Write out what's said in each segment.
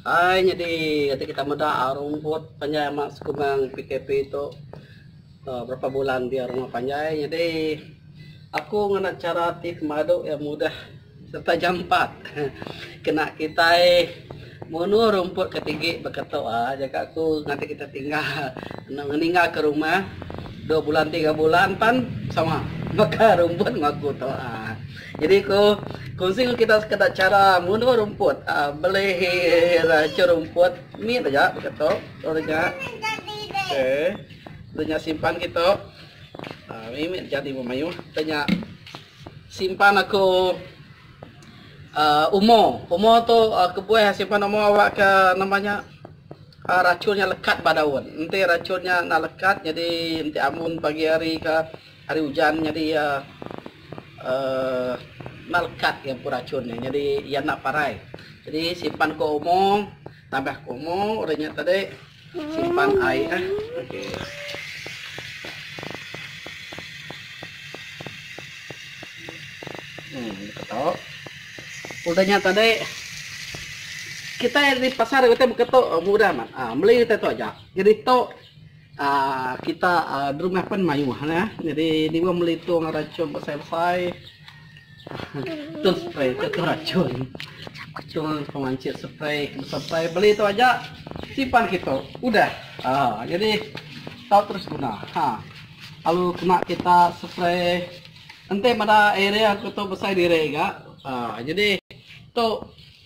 Ai nyadi ati kita meda rumput panjai amat sekumbang PKP tu uhh berapa bulan dia rumah panjai nyadi aku ngena chara ti pemadu iya mudah serta jampat uhh kena kitai munu rumput ka tigi baka tu uhh jaku aku ngagai kita tinggal enda ngeninga ka rumah dua bulan tiga bulan pan sama baka rumput ngaku tu uhh. Jadi ku kunsi enggau kita sekeda chara ngunduh rumput aaa belihi racha rumput ni ba ja baka tu ulu nya okay ulu nya simpan kitu aaa ni mih jadi meh mayuh kita nya simpan aku aaa umo umo tu kebuah simpan umo awak ke nama nya aaa rachun nya lekat ba daun enti rachun nya enda lekat jadi enti ambun pagi hari ka. Hari ujan nyadi iya enda lekat iya empu rachun nya nyadi iya enda parai. Jadi simpan ku omo tambah ku omo udah nya tadi simpan ai eh okey. Em deka tu udah nya tadi kitai ari pasar kitai baka tu mudah amat meli kitai tu aja jadi tu. Kita derumah pen mayuh ne jadi diweh meli tong rachun besai besai tong spray tu tong rachun tong pemancit spray besai besai beli tu aja simpan kitu udah jadi tau terus guna lalu kena kita spray enti beda area ku tu besai diri ga jadi tu.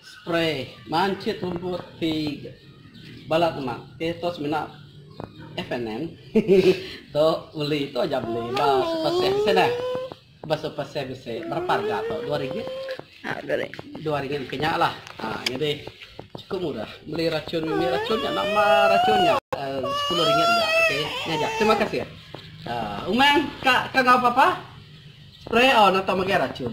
Spray manchit rumput ti balat lemak ti tu semina FNM tu beli tu aja beli ba super sale bisi neh. Ba super sale bisi berapa harga tu dua ringgit. Dua ringgit engke nya lah. Haa nyadi chukup murah beli rachun nya nama rachun nya sepuluh ringgit aja okey. Nya aja terima kasih. Haa umang ka ka enggau papa spray au nang tu mega rachun.